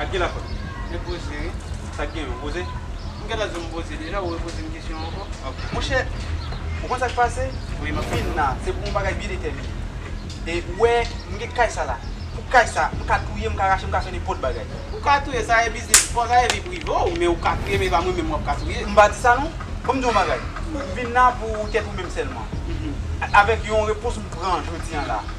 Ak ki lafòt? Se poze wi. Sa k genyen? Ou poze? M gentan di w m poze deja, ou repoze m kesyon an ankò? Ok. Monchè, ou konn sa k pase? Wi, m ap tande w. Vin la, se pou yon bagay byen detèmine. E ou wè, m gen kay sa la. Pou kay sa, m ka touye, m ka rache, m ka fè nenpòt bagay. Ou ka touye, sa e biznis pa w, sa e vi prive w, men ou ka touye, men e pa mwen menm w ap ka touye. M pa di sa non. Bon m di w yon bagay. M vin la pou tèt ou menm sèlman. Avèk yon repons m pran jodi an la.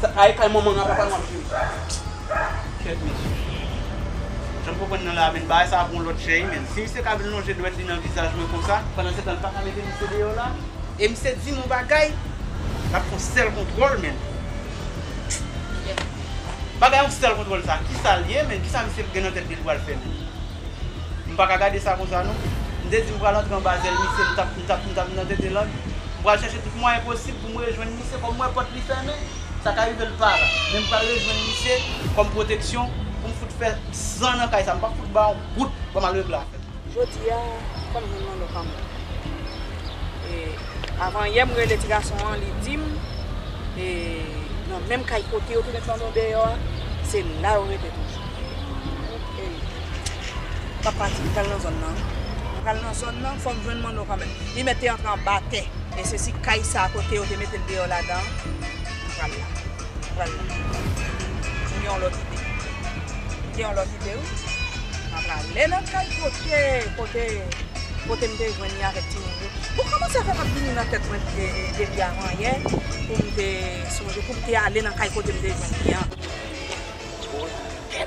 Sa a e kay manman a papa nou ap jwe sa. Kèt mesye. Janm konprann nan la menn bagay sa ap yon lòt jèy menn. Si misye ka vin lonje dwèt li nan vizaj mwen konsa. Pandan setan li paka mete misye deyò la. E misye dim yon bagay. Lap fon sèl kontwòl menn. Bagay yon sèl kontwòl sa. Kisa liye menn kisa misye gen nan tèt li li pral fè menn. M paka gade sa konsa non. M te di m pral antre anba zèl misye, m tap m tap m tap nan tete lang. M pral chèche tout mwayen posib pou m rejwenn misye kòm m wè pòt li fèmen, sa ka rive l pa la. Men m pral rejwenn misye kòm pwoteksyon pou m fout fè san nan kay sa. M pap fout ba yon gout pou m al regle afè m. Jodi a, fò m jwenn Manno pa m lan. E avan yè m rele ti gason an, li di m e nan menm kay kote yo tounen flanbe yo deyò a, se la yo rete toujou. Ey m pap pati m pral nan zòn nan m pral nan zòn nan fòm jwenn manno kanmèm li mèt te antre anba tè e sesi kay sa kote yo te metel deyò ladan m pral la m pral la m gen yon lòt ide m gen yon lòt ide wi m a prale nan kay kote kote kote m te jwenn li avèk timoun yo bon kòman sa fè m ap vini nan tèt mwen depi avan yè poum te sonje poum te ale nan kay kote m te jwenn li an.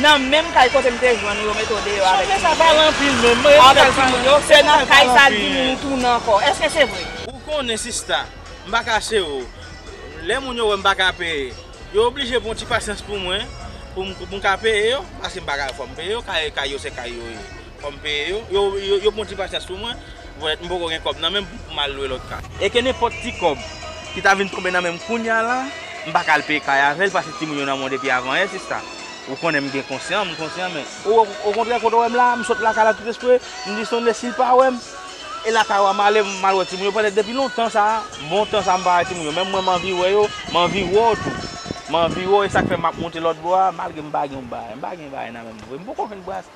Nan menm kay kote m te jwenn ou yo mete w deyò avèk timoun yo. Chanje sa pale anpil menm. Mwen renmen kay sa yo. Se nan kay sa di moun ou tounen ankò. Eske se vre? Ou konnen sista, m pa kache w. Lè moun yo wè m pa ka peye, yo oblije pran yon ti pasyans pou mwen pou m ka peye yo. Paske m pa ka fò m peye yo. Kay yo se kay yo ye. Fò m peye yo. Yo pran ti pasyans pou mwen. Volèt m poko gen kòb nan menm pou m al lwe lòt kay. E ke nenpòt ti kòb ki ta vin tonbe nan men m kounya la, m pa ka al peye kay avè l paske timoun yo nan mwen depi avan yè sista. Ou konnen m gen konsyan, m konsyan men. Okontrè kote w wè m la a, m sot lakay la tout espre, m di Stanley si l pa wè m, e lakay ou a m ale, m al wè timoun yo petèt depi lontan sa a, bon tan sa a m pa wè timoun yo. Menm mwen m anvi wè yo, m anvi wè w tou. M anvi wè w e sa k fè m ap monte lòt bò a malgre m pa gen yon bagay. M pa gen bagay nan men m vre. M poko jwenn bras.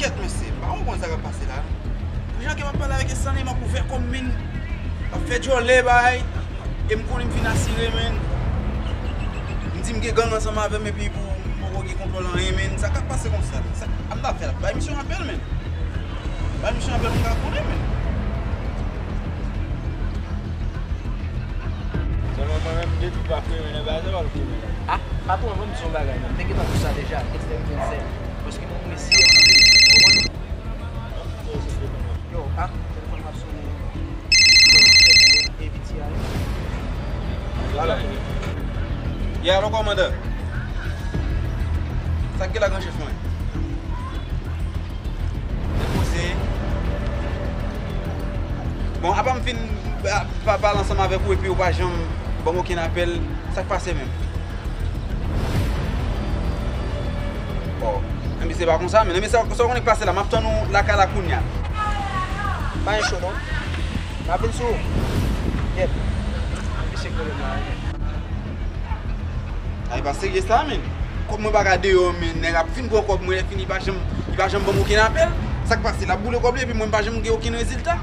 Kèt mesye, pa mwen konn sa kap pase la. Pou jan ke map pale avek Estanley map ouvè kòm min map fè djòlè bay e m konnen m fin asire men m di m gen gang ansanm avèm epi pou m poko gen kontwòl anyen men sa kap pase konsa men sa m ta fè la bay misye yon apèl men bay misye yon apèl pou m ka konnen men. Selman mwen menm depi pa fremen nèg la se pa l fremen. Ah patron an banm di w yon bagay nan m te gentan di w sa deja Extèm 27. Paske mwen mwen si yèm tande. Ou konprann? Yo, ah, telefòn m ap sone yo. Yo, m fèk wè ABTI. Yeah, alo kòmandè. Sa k gen la gran chèf mwen? Depoze. Bon, apa m fin pale ansanm avèk ou epi ou pa janm banm okenn apèl, sa k pase menm? Enbyen se pa konsa men. Enbyen sa w konnen k pase la. M ap tann ou lakay la kounya. Pa gen cho non. M ap vin sou ou. Gyèt. Mesye pwoblèm nan anyen. A e pa serye sa men. Kòb mwen pa ka deyò men. Nèg ap fin pran kòb mwen lè fini li pa janm ban m okenn apèl. Sa k pase? L ap boule kòb li epi mwen m pa janm gen okenn rezilta?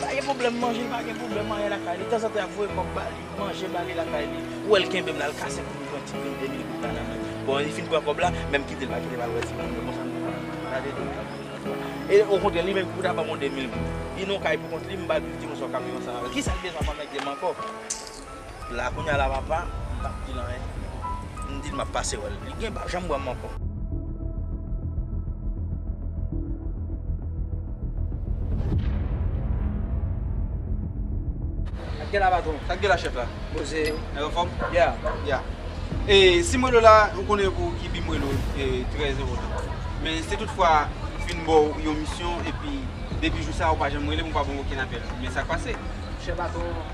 Pa gen pwoblèm manje pa gen pwoblèm anyen lakay li tanzantan yap voye kòb bali manje bali lakay li ou wèl kenbem lal kase poum pran ti mil 2000 goud la nan menl bon li fin pran kòb la menm kitel pa kitel al wè ti moun yo bon sa nou pran gade nèg la moun nan e okontrè li menm ki pou ta banm yon 2000 goud li nan yon kay pou kont li m bal plis ti moun sa kap viv ansanm avèl kisal bezwen avèk manèg li ankò. La kounya la papa m pap dil anyen m dil map pase wèl li gen pap janm wèm ankò. Sak gen la patron? Sak gen la chef la? Poze yo. Nèg an fòm? Yeah. Yeah. E si m rele w la ou konnen pou ki bi m rele w e trè enpòtan. Men si tout fwa m fin ba w yon misyon epi depi jou sa ou pa janm rele m ou pa ba m okenn apèl men sak pase? Chè patron.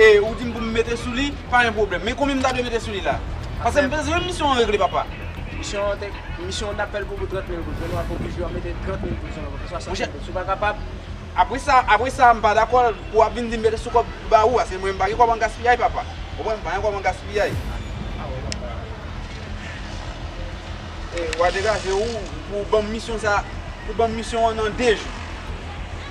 E ou dim pou m mete sou li, pa gen pwoblèm. Men konbyen m ta dwe mete sou li la? Pase m bezwen misyon an regle papa. Misyon an te, misyon an t ap fè l pou 30 mil goud, men nou ap oblije yo mete 30 mil goud sou l ankò, pou 60 mil goud. Si w pa kapab. Apre sa, apre sa m pa dakò l pou w ap vin di m mete sou kòb m ba ou a. Se mwen m pa gen kòb an gaspiyay papa. Ou konprann? M pa gen kòb an gaspiyay. A bon, papa. E w a degaje ou pou w ban m misyon sa, pou w ban m misyon an nan 2 jou.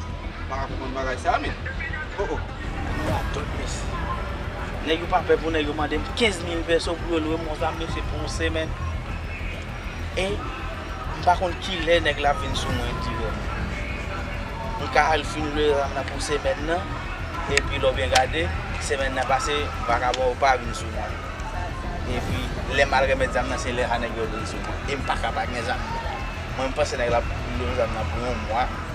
M paka konprann bagay sa men oh oh. Mwen radòt mesye. Nèg yo pa pè pou nèg yo mandem 15 mil pèso pou yo lwe mont la mesye pou yon semèn e m pa konn kilè nèg la ap vin sou mwen dirè m m ka al fin lwe ram nan pou semèn nan epi lè w byen gade semèn nan pase vakabon yo pa vin sou mwen epi lè m al remèt zam nan se lè sa nèg yo vin sou mwen e m paka pa gen zam nan mwen m panse nèg la ap lwe zam nan pou yon mwa.